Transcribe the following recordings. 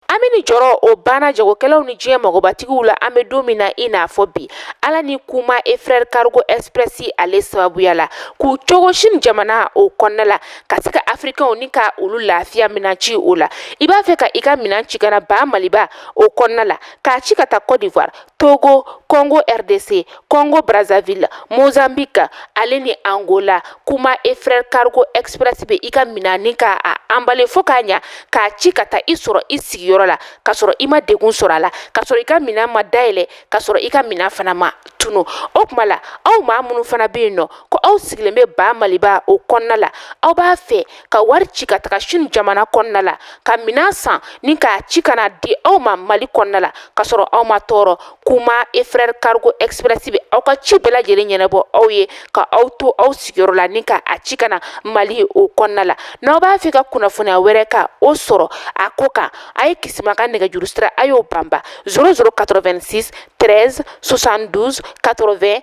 hami ni jɔrɔ o banna jagokɛlaw ni diɲɛ magobatigiw la an bɛ don min na i n'a fɔ bi ala ni kuma et frères cargo express ale sababuya la k'u cogo sini jamana o kɔnɔna la ka se ka afirikɛnw ni ka olu lafiya minan ci ko la i b'a fɛ ka i ka minan ci ka na ba maliba o kɔnɔna la k'a ci ka taa cote d'ivoire Togo, Congo RDC, Congo Brazzaville, Mozambique, ale ni Angola, kuma et frères cargo express bɛ i ka minan ni ka a anbale fo k'a ɲa k'a ci ka taa i sɔrɔ i sigiyɔrɔ la ka sɔrɔ i ma degun sɔrɔ a la ka sɔrɔ i ka minan ma dayɛlɛ ka sɔrɔ i ka minan fana ma tunu o kuma la aw maa minnu fana bɛ yen nɔ ko aw sigilen bɛ ba maliba o kɔnɔna la aw b'a fɛ ka wari ci ka taga sini jamana kɔnɔna la ka minan san ni k'a ci ka na di aw ma mali kɔnɔna la ka sɔrɔ aw ma tɔɔrɔ kuma et frères cargo express bɛ aw ka ci bɛɛ lajɛlen ɲɛnabɔ aw ye ka aw to aw sigiyɔrɔ la ni ka a ci ka na mali o kɔnɔna la n'aw b'a fɛ ka kunnafoniya wɛrɛ ka o sɔrɔ a ko kan a ye kisima ka nɛgɛjuru sira a y'o banba 0086 13 72 80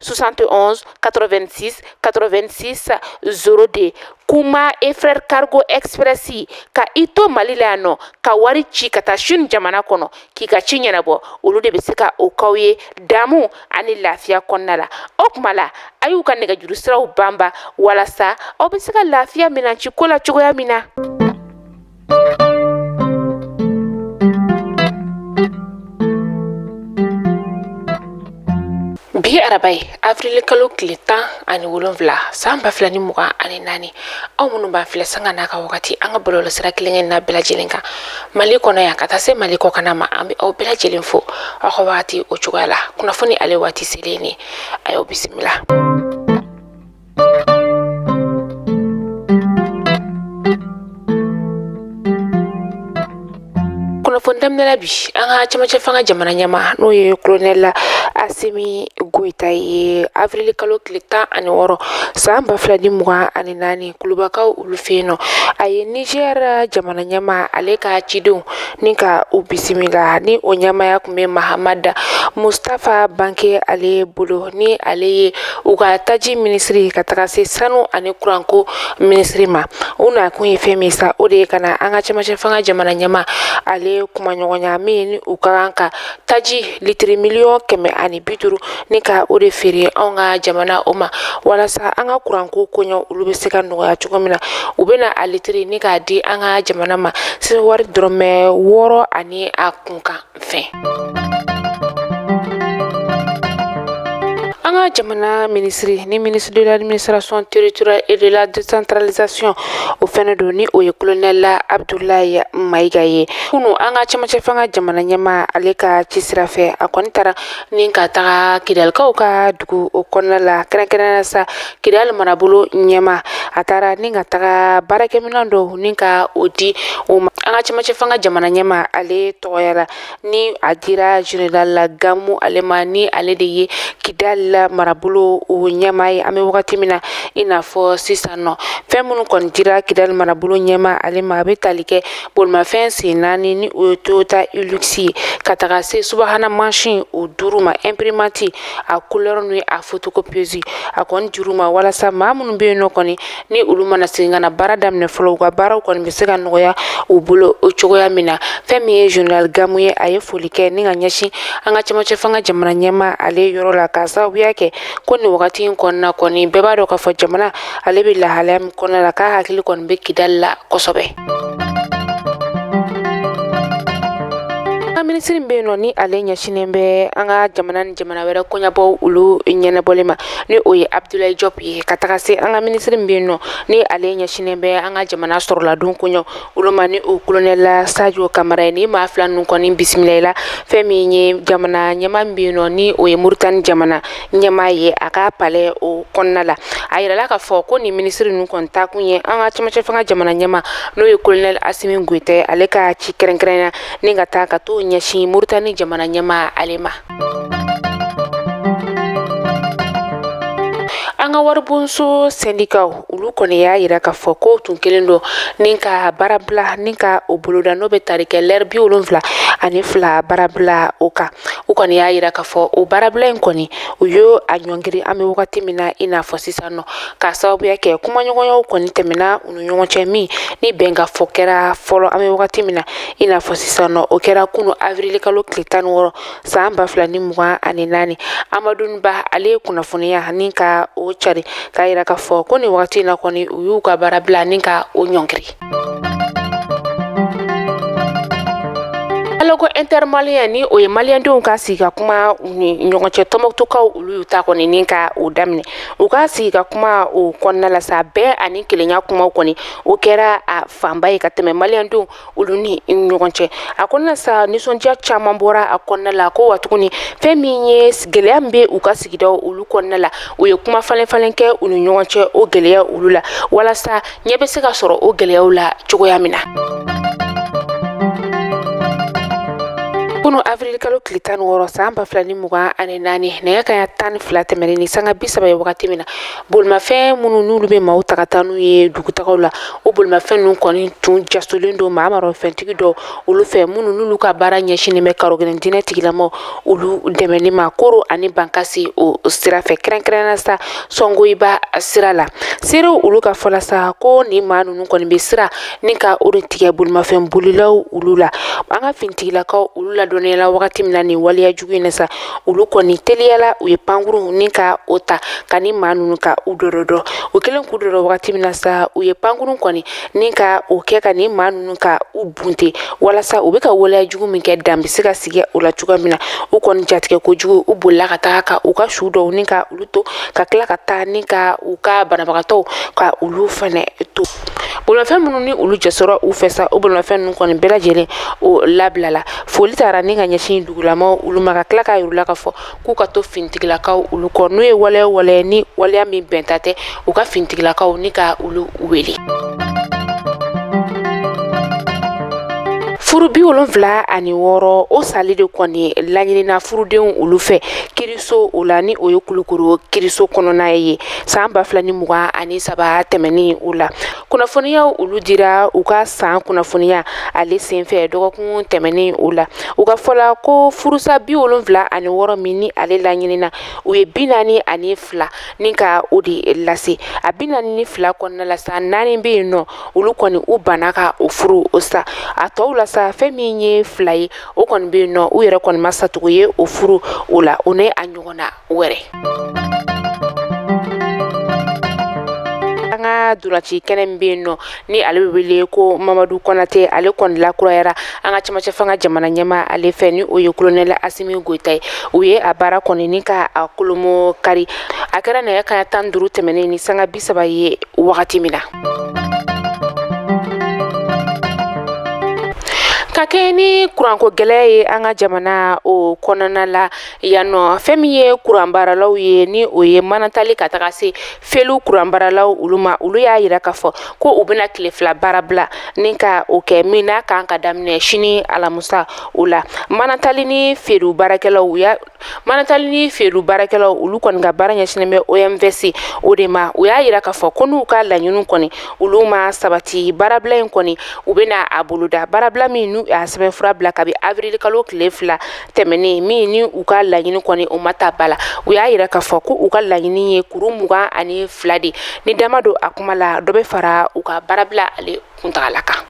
71 86 86 02 kuma et frères cargo express ka i to mali la yan nɔ ka wari ci ka taa sini jamana kɔnɔ k'i ka ci ɲɛnabɔ olu de bɛ se ka o k'aw ye damu ani lafiya kɔnɔna la o kuma la a y'u ka nɛgɛjuru siraw banba walasa aw bɛ se ka lafiya minan ci ko la cogoya min na bi araba ye avril kalo tile tan ani wolonfila san ba fila ni mugan ani naani aw minnu b'an filɛ sanga n'a ka wagati an ka bɔlɔlɔ sira kelenkelenna bɛɛ lajɛlen kan mali kɔnɔ yan ka taa se mali kɔkanna ma an bɛ aw bɛɛ lajɛlen fo aw ka wagati o cogoya la kunnafoni ale waati selen ye nin ye aw bisimila kunnafoni daminɛ la bi an ka cɛmancɛ fanga jamana ɲɛmaa n'o ye kolonɛli asimi goyita ye avrili kalo tile tan ani wɔɔrɔ san ba fila ni mugan ani naani kulubakaw olu fɛ yen nɔ a ye nizɛri jamana ɲɛmaa ale ka cidenw ni ka u bisimila ni o ɲɛmaaya tun bɛ mahamada mustafa banke ale bolo ni ale ye u ka taji minisiri ka taga se sanu ani kuranko minisiri ma u na kun ye fɛn min sa o de ye ka na an ka cɛmancɛ fanga jamana ɲɛmaa ale kumaɲɔgɔnya min ni u ka kan ka taji litiri miliyɔn kɛmɛ ani bi duuru ni ka o de feere anw ka jamana o ma walasa an ka kuranko koɲɛ olu bɛ se ka nɔgɔya cogo min na u bɛna a litiri ni k'a di an ka jamana ma sefawari dɔrɔmɛ wɔɔrɔ ani a kunkan fɛn. an ka jamana minisiri ni minisiri de l'administration territoriale et de la décentralisation o fɛnɛ don ni o ye kolonɛla abudulayi mayiga ye kunu an ka cɛmancɛ fanga jamana ɲɛma ale ka ci sira fɛ a kɔni taara ni ka taga kidalikaw ka dugu o kɔnɔna la kɛrɛnkɛrɛnnenya sa kidali marabolo ɲɛma a taara ni ka taga baarakɛminɛn dɔw ni ka o di o ma an ka cɛmancɛ fanga jamana ɲɛma ale tɔgɔya la ni a dira general la gamu ale ma ni ale de ye kidal la marabolo o ɲɛma ye an bɛ wagati min na i n'a fɔ sisan nɔ fɛn minnu kɔni dira kidal marabolo ɲɛma ale ma a bɛ tali kɛ bolimafɛn sen naani ni o ye toyota hilux ye ka taga se subahana mansin o duuru ma imprimante a couleur ni a photocopieuse a kɔni dir'u ma walasa maa minnu bɛ yen nɔ kɔni ni olu mana segin ka na baara daminɛ fɔlɔ u ka baaraw kɔni bɛ se ka nɔgɔya u bolo o cogoya min na fɛn min ye general gamu ye a ye foli kɛ ni ka ɲɛsin an ka cɛmancɛ fanga jamana ɲɛma ale yɔrɔ la k'a sababuya kɛ ko nin wagati in kɔnɔna kɔni bɛɛ b'a dɔn k'a fɔ jamana ale bɛ lahalaya min kɔnɔna la k'a hakili kɔni bɛ kidali la kosɛbɛ minisiri min bɛ yen nɔ ni ale ɲɛsinnen bɛ an ka jamana ni jamana wɛrɛ koɲabɔw olu ɲɛnabɔli ma ni o ye abudulayi jɔp ye ka taga se an ka minisiri min bɛ yen nɔ ni ale ɲɛsinnen bɛ an ka jamana sɔrɔladon koɲa olu ma ni o kolonɛla sajo kamara ye nin maa fila ninnu kɔni bisimilala fɛn min ye jamana ɲɛma min bɛ yen nɔ ni o ye moritani jamana ɲɛmaa ye a ka palɛ o kɔnɔna la a yirala k'a fɔ ko nin minisiri ninnu kɔni taakun ye an ka cɛmancɛ fanga jamana ɲɛma n'o ye kolonɛli asimi goyita ale ka ci kɛrɛnkɛrɛnya ni ka taa ka t'o ɲɛsin moritani jamana ɲɛma ale ma an ka waribonso sɛndikaw olu kɔni y'a yira k'a fɔ ko tun kelen don ni ka baarabila ni ka o boloda n'o bɛ tali kɛ lɛri bi wolonwula ani fila baarabila o kan u kɔni y'a yira k'a fɔ o baarabila in kɔni u y'o a ɲɔngiri an bɛ wagati min na i n'a fɔ sisan nɔ k'a sababuya kɛ kumaɲɔgɔnyaw kɔni tɛmɛna u ni ɲɔgɔn cɛ min ni bɛn ka fɔ kɛra fɔlɔ an bɛ wagati min na i n'a fɔ sisan nɔ o kɛra kunu avrili kalo tile tan ni wɔɔrɔ san ba fila ni mugan ani naani amadun ba ale ye kunnafoniya ni ka o cari k'a yira k'a fɔ ko nin wagati in na kɔni u y'u ka baarabila ni ka o ɲɔngiri ko intermalien ni o ye maliendenw ka sigi ka kuma u ni ɲɔgɔn cɛ tɔmbukutukaw olu y'u ta kɔni ni ka o daminɛ u ka sigi ka kuma o kɔnɔna la sa bɛn ani kelenya kumaw kɔni o kɛra a fanba ye ka tɛmɛ maliendenw olu ni ɲɔgɔn cɛ a kɔnɔna sa nisɔndiya caman bɔra a kɔnɔna la ko wa tuguni fɛn min ye gɛlɛya min bɛ u ka sigidaw olu kɔnɔna la u ye kuma falen falen kɛ u ni ɲɔgɔn cɛ o gɛlɛya olu la walasa ɲɛ bɛ se ka sɔrɔ o gɛlɛyaw la cogoya min na kunu avril kalo tile tan wɔɔrɔ san ba fila ni mugan ani naani nɛgɛ kanɲɛ tan ni fila tɛmɛnen ni sanga bi saba ye wagati min na bolimafɛn minnu n'olu bɛ maaw ta ka taa n'u ye dugutagaw la o bolimafɛn ninnu kɔni tun jasolen don maramafɛntigi dɔ olu fɛ minnu n'olu ka baara ɲɛsinnen bɛ karɔgɛlɛn diinɛ tigilamɔgɔ olu dɛmɛni ma koro ani bankasi o sira fɛ kɛrɛnkɛrɛnnenya sa sɔngoyiba sira la seerew olu ka fɔ la sa ko nin maa ninnu kɔni bɛ sira ni ka o de tigɛ bolimafɛn bolilaw olu la an ka finitigilakaw olu ladɔnniyala wagati min na nin waleya jugu in na sa olu kɔni teliyala u ye pankuru ni ka o ta ka nin maa ninnu ka u dɔdɔdɔ u kɛlen k'u dɔdɔ wagati min na sa u ye pankuru kɔni ni ka o kɛ ka nin maa ninnu ka u bunte walasa u bɛ ka waleya jugu min kɛ dan bɛ se ka sigi o la cogoya min na u kɔni jatigɛ kojugu u bolila ka taa ka u ka su dɔw ni ka olu to ka tila ka taa ni ka u ka banabagatɔw ka olu fana to bolimafɛn minnu ni olu jasora u fɛ sa o bolimafɛn ninnu kɔni bɛɛ lajɛlen o labilala foli taara ni ka ɲɛsin dugulamaa olu ma ka tila k'a yir'u la k'a fɔ k'u ka to finitigilakaw olu kɔ n'u ye waleya wale ni waleya min bɛnta tɛ u ka finitigilakaw ni ka olu wele furu bi wolonfila ani wɔɔrɔ o sali de kɔni laɲinina furudenw olu fɛ kiriso o la ni o ye kulukoro kiriso kɔnɔna ye san ba fila ni mugan ani saba tɛmɛnen o la kunnafoniyaw olu dira u ka san kunnafoniya ale senfɛ dɔgɔkun tɛmɛnen o la u ka fɔla ko furusa bi wolonfila ani wɔɔrɔ min ni ale laɲinina u ye bi naani ani fila ni ka o de lase a bi naani ni fila kɔnɔna la sa naani bɛ yen nɔ olu kɔni u banna ka o furu o sa a tɔw la sa fɛn min ye fila ye o kɔni bɛ yen nɔ u yɛrɛ kɔni ma satugu ye o furu o la o ni a ɲɔgɔnna wɛrɛ an ka ntolaci kɛnɛ min bɛ yen nɔ ni ale bɛ wele ko mamadu konate ale kɔni lakurayara an ka camancɛ fanga jamana ɲɛmaa ale fɛ ni o ye kolonɛli asimi goyita ye u ye a baara kɔni ni ka a kolomo kari a kɛra nɛgɛ kanɲɛ tan duuru tɛmɛnen ni sanga bi saba ye wagati min na ka kɛɲɛ ni kuranko gɛlɛya ye an ka jamana o kɔnɔna la Yan nɔ fɛn min ye kuranbaaralaw ye ni o ye manatali ka taga se felu kuranbaaralaw olu ma olu y'a yira k'a fɔ ko u bɛna tile fila baarabila ni ka o kɛ min n'a kan ka daminɛ sini alamusa o la manatali ni felu baarakɛlaw u y'a manatali ni felu baarakɛlaw olu kɔni ka baara ɲɛsinnen bɛ OMVS o de ma u y'a yira k'a fɔ ko n'u ka laɲini kɔni olu ma sabati baarabila in kɔni u bɛna a boloda baarabila min n'u y'a sɛbɛnfura bila kabi avril kalo tile fila tɛmɛnen min ni u ka laɲini kɔni o ma ta ba la u y'a yira k'a fɔ ko u ka laɲini ye kuru mugan ani fila de ni dama don a kuma la dɔ bɛ fara u ka baarabila ale kuntagala kan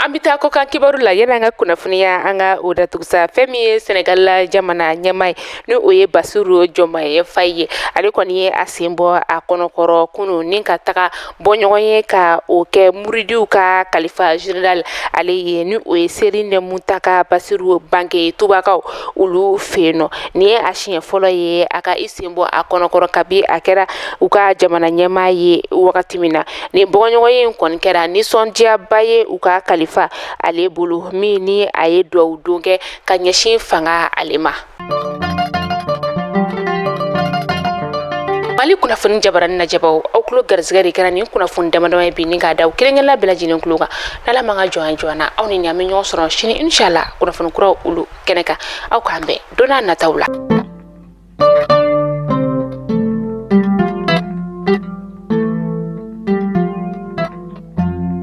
an bɛ taa kɔkan kibaru la yan'an ka kunnafoniya an ka o datugu sa fɛn min ye senegali la jamana ɲɛmaa ye ni o ye basiru jɔmaye fayi ye ale kɔni ye a sen bɔ a kɔnɔkɔrɔ kunu ni ka taga bɔ ɲɔgɔn ye ka o kɛ muridiw ka kalifa general ale ye ni o ye serinɛ muntaka basiru mbake tubakaw olu fɛ yen nɔ nin ye a siɲɛ fɔlɔ ye a ka i sen bɔ a kɔnɔkɔrɔ kabi a kɛra u ka jamana ɲɛmaa ye wagati min na nin bɔɲɔgɔnye in kɔni kɛra nisɔndiyaba ye u ka kalifa ale bolo min ni a ye dugawu don kɛ ka ɲɛsin fanga ale ma mali kunnafoni jabarani lajɛbaw aw kulo garisɛgɛ de kɛra nin kunnafoni damadama ye bi ni k'a da aw kelenkelenna bɛɛ lajɛlen kulo kan n'ala ma ka jɔn jɔn na aw ni ne an bɛ ɲɔgɔn sɔrɔ sini inshala kunnafoni kuraw olu kɛnɛ kan aw k'an bɛn don n'a nataw la